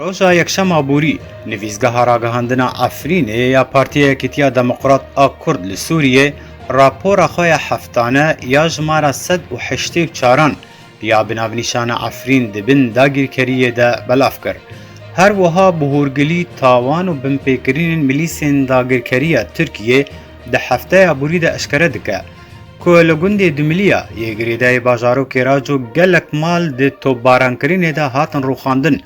Roja Yekşema Borî, nivîsgeha ragihandina Efrînê ya Partiya Yekîtiya Demokrat a Kurd li Sûriyê rapora xwe ya heftane ya jimara sed û heştê û çaran ya bi navnîşana Efrîn di bin dagîrkeriyê de belav kir. Her wiha bi hûrgilî tawan û binpêkirinên milîsên dagirkeriya Tirkiyê di hefteya borî de eşkere dike. ku li gundê Dumiliya yê girêdayî bajarokê Raco gelek mal di topbarankirinê de hatin rûxandin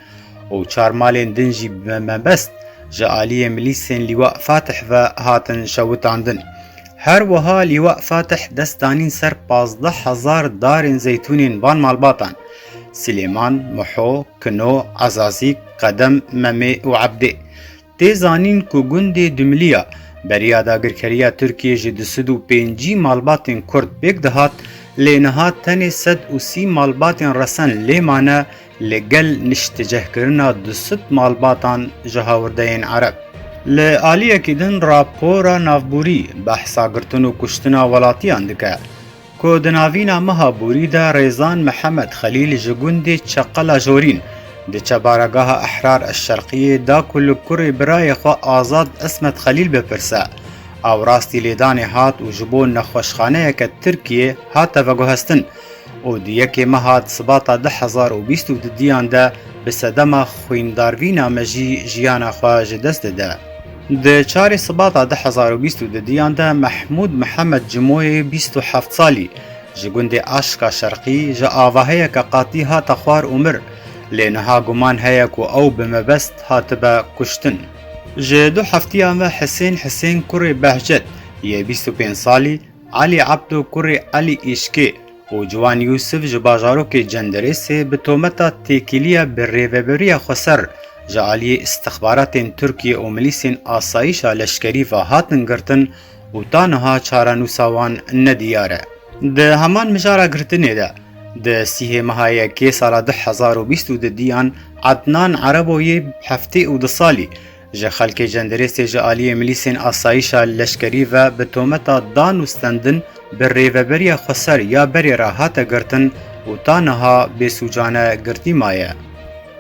û çar malên din jî bi mebest ji aliyê milîsên Lîwa Fatih ve hatin şewitandin. Her wiha Lîwa Fatih dest danîn ser pazdeh hezar darên zeytûnên van malbatan Silêman, Muho, Kino, Ezazîk, Qedem, Memê û Ebdê. Tê zanîn ku gundê Dumiliya beriya dagirkeriya Tirkiyê ji du sed û pêncî malbatên Kurd pêk dihat lê niha tenê sed û sî malbatên resen lê mane li gel niştecehkirina du sed malbatan ji hawirdeyên Ereb. Li aliyekî din rapora navborî behsa girtin û kuştina welatiyan dike. Ku di navîna meha borî de Rêzan Mihemed Xelîl ji gundê Çeqela Jorîn di Çebaregaha Ehrar Eşşerqiyê da ku li kurê birayê xwe Azad Ismet Xelîl bipirse, awrastî lêdanê hat û ji bo nexweşxaneyeke Tirkiyê hate veguhestin û di yekê meha Sibata du hezar û bîst û du diyan de bi sedema xwîndarvîna mejî jiyana xwe ji dest dide. Di çarê Sibata du hezar û bîst û du diyan de Mehmûd Mihemed Cimoyê bîst û heft salî ji gundê Aşka Şerqî ji avaheyeke qatî hate xwar û mir, lê niha guman heye ku ew bi mebest hatibe kuştin. Ji du heftiyan ve Hisên Hisên kurê Behcet yê bîst û pênc salî Alî Ebdo kurê Alî Îşkê û Ciwan Yûsif ji bajarokê Cendirêsê bi tometa têkiliya bi rêveberiya xweser ji aliyê îstixbaratên Tirkiyê û milîsên asayîşa leşkerî ve hatin girtin û ta niha çarenûsa wan ne diyar e. Di heman mijara girtinê de di sihê meha yekê sala du hezar û bîst û du diyan Ednan Erebo yê heftê û du salî, Ji xelkê cendirêstê ji aliyê milîsên asayîşa leşkerî ve bi tometa dan û stendin bi rêveberiya xweser ya berê re hate girtin û ta niha bêsûcane girtî maye.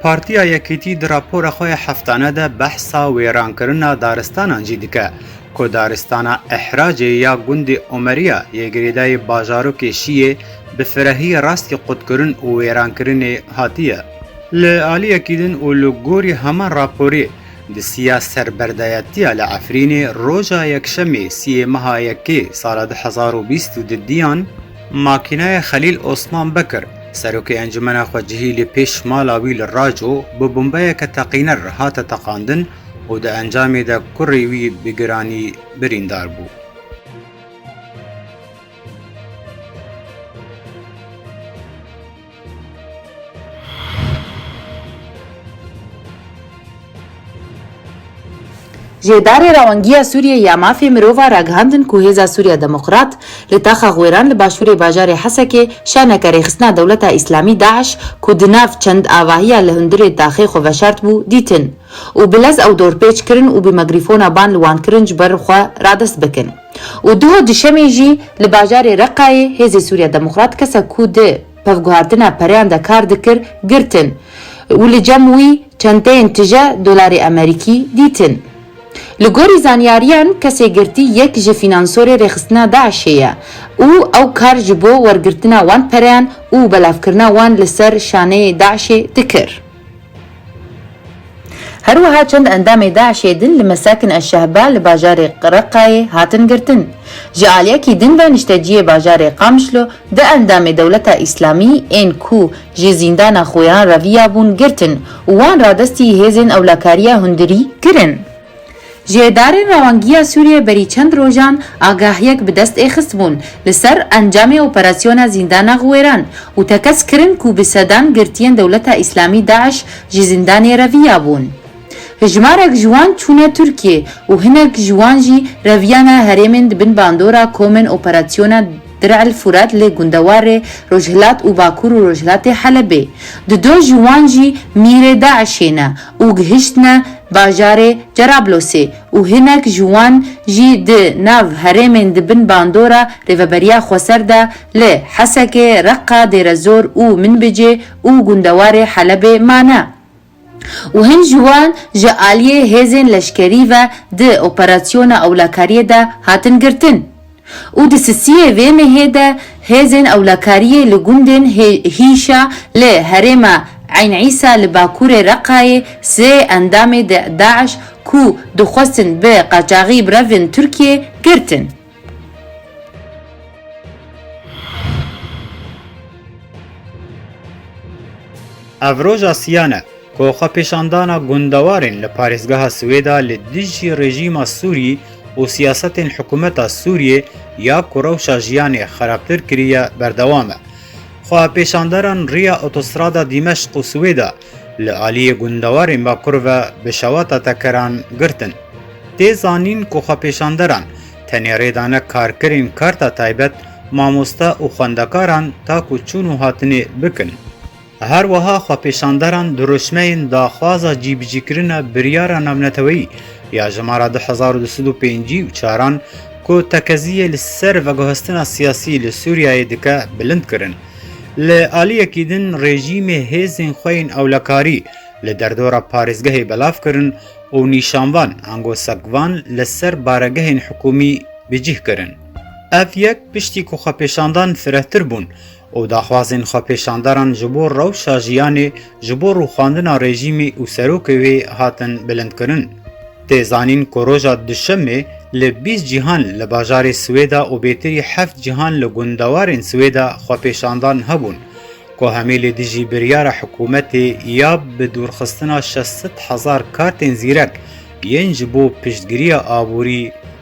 Partiya Yekîtî di rapora xwe ya heftane de behsa wêrankirina daristanan jî dike ku daristana Ehracê ya gundê Omeriya yê girêdayî bajarokê Şiyê bi firehiyê rastî qutkirin û wêrankirinê hatiye. Li aliyekî din û li gorî heman raporê di siya serberdayetiya li Efrînê roja Yekşemê siyê meha Yekê sala du hezar û bîst û du diyan makînayê Xelîl Osman Bekir serokê encumena xwecihî li pêş mala wî li Raco bi bombeyeke teqîner hate teqandin û di encamê de kurê wî bi giranî birîndar bû. Ji Îdarê Rewangiya Sûriyeyê ya Mafê Mirovan ragihandin ku Hêza Sûriya Demokrat li taxa Xwêran li başûrê bajarê Hesekê şaneke rêxistina Dewleta Îslamî, DAIŞ, ku di nav çend avahiya li hundirê taxê xwe veşart bû, dîtin û bi lez ew dorpêç kirin û bi megrîfona ban li wan kirin ji ber xwe radest bikin. û duha duşemê jî li bajarê Reqayê Hêzê Sûriya Demokrat kesek ku di pevguhartina pereyan de kar dikir girtin û li cem wî çenteyên tije dolarê Amerîkî dîtin. Li gorî zanyariyan kesê girtî yek ji fînansorê rêxistina DAIŞ'ê ye û ew kar ji bo wergirtina wan pereyan û belavkirina wan li ser şaneyê DAIŞ'ê dikir. Her wiha çend endamê DAIŞ'ê din li Mesakin eş-Şehba li bajarê Reqqayê hatin girtin. Ji aliyekî din ve nişteciyê bajarê Qamişlo du endamê Dewleta Îslamî ên ku ji zîndana Xweyan re viyabûn girtin û wan radestî hêzên ewlakariya hundirî kirin. Ji Îdarê Rewangiya Sûriyê berî çend rojan agahiyek bi dest ê xistbûn li ser encamê operasyona Zîndana Xwêran û tekez kirin ku bi sedan girtiyên Dewleta Îslamî DAIŞ ji zîndanê reviya bûn. Hejmarek ji wan çûne Tirkiyê û hinek ji wan jî reviyane herêmên di bin bandora komên operasyona Dir El Furat lê gundewarê rojhilat û bakur û rojhilatê Helebê. Di do ji wan jî mîrê DAIŞ'ê ne û gihiştine bajarê Cerablosê û hinek ji wan jî di nav herêmên di bin bandora Rêveberiya Xweser de li Hesekê, Reqqa, Dêrezor û Minbicê û gundewarê Helebê mane. û hin ji wan ji aliyê hêzên leşkerî ve di operasyona ewlekariyê de hatin girtin û di sisiyê vê mehê de hêzên ewlekariyê li gundên Hîşa li herêma Eyn Îsa li bakurê Reqayê sê endamê DAIŞ ku dixwestin bi qaçaxî birevin Tirkiyê, girtin. Ev roja siyan e ku xwepêşandana gundewarên li parêzgeha Swêda li dijî rejîma Sûrî û siyasetên hikûmeta Sûriyê ya ku rewşa jiyanê xerabtir kiriye berdewam e. Xwepêşanderan riya otostrada Dîmeşq û Swêda Li aliyê gundewarên Bakur ve bi şewata tekeran girtin. Tê zanîn ku xwepêşanderan tenê rê dane karkirên karta taybet, mamoste û xwendekaran ta ku çûn û hatinê bikin. Her wiha xwepêşanderan dirûşmeyên daxwaza cîbicîkirina biryara navneteweyî ya jimara du hezar û du sed û pêncî û çaran ku tekeziyê li ser veguhestina siyasî li Sûriyeyê dike bilind kirin. Li aliyekî din rejîmê hêzên xwe yên ewlekarî li derdora parêzgehê belav kirin û nîşanvan ango sekvan li ser baregehên hikûmî bi cih kirin. Ev yek piştî ku xwepêşandan firehtir bûn û daxwazên xwepêşandaran ji bo rewşa jiyanê, ji bo rûxandina rejîmê û serokê wê hatin bilindkirin. Tê zanîn ku roja Duşemê li bîst cîhan li bajarê Swêda û bêtirî heft cîhan li gundewarên Swêda xwepêşandan hebûn ku hemî li dijî biryara hikûmetê ya bi dûrxistina şeş sed hezar kartên zîrek yên ji bo piştgiriya aborî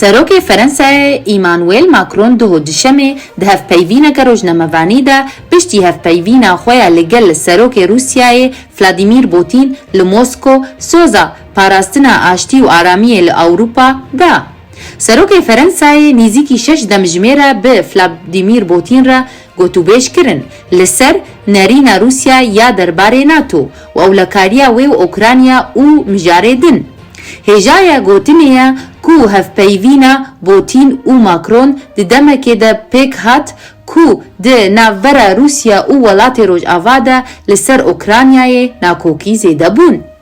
Serokê Ferensayê Îmanuel Makron duho Duşemê di hevpeyvîneke rojnamevanî de piştî hevpeyvîna xwe ya li gel Serokê Rûsyayê Vladîmîr Botîn li Mosko soza parastina aştî û aramiyê li Ewropa da. Serokê Ferensayê nîzîkî şeş demjimêre bi Vladîmîr Botîn re Gotûbêj kirin li ser nerîna Rûsya ya derbarê NATO, wewlekariya wê û Ûkranya û mijarê din. Hêjaya gotinê ye ku hevpeyivîna Botîn û Makron di demekê de pêk hat ku di navbera Rûsya û welatê Rojava de li ser Ûkranyayê nakokî zêde bûn.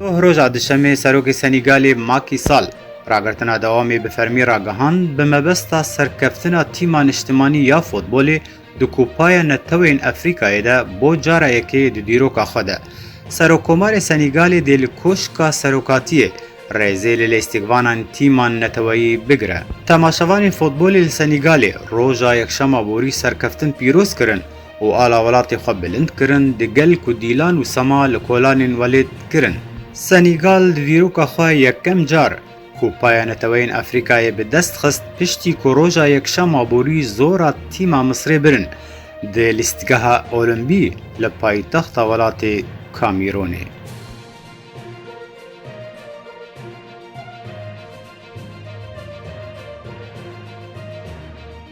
Doh roja Duşemê Serokê Senîgalê Macky Sall ragirtina dewamê bi fermî ragihand bi mebesta serkeftina tîma niştimanî ya futbolê di Kupaya Neteweyên Efrîkayê de bo cara yekê di dîroka xwe de. Serokkomarê Senîgalê dê li Koşka Serokatiyê rêzê li lêstikvanan tîman neteweyî bigire. Temaşevanên futbolê li Senîgalê roja Yekşema borî serkeftin pîroz kirin. û ala welatê xwe bilind kirin, di gel ku dîlan û sema li kolanên welêt kirin. Senîgal di dîroka xwe yekem car ku paya Neteweyên Efrîkayê bi dest xist piştî ku roja yekşema borî zora tîma Misrê birin di lîstgeha Olimbî li paytexta welatê Kamîronê.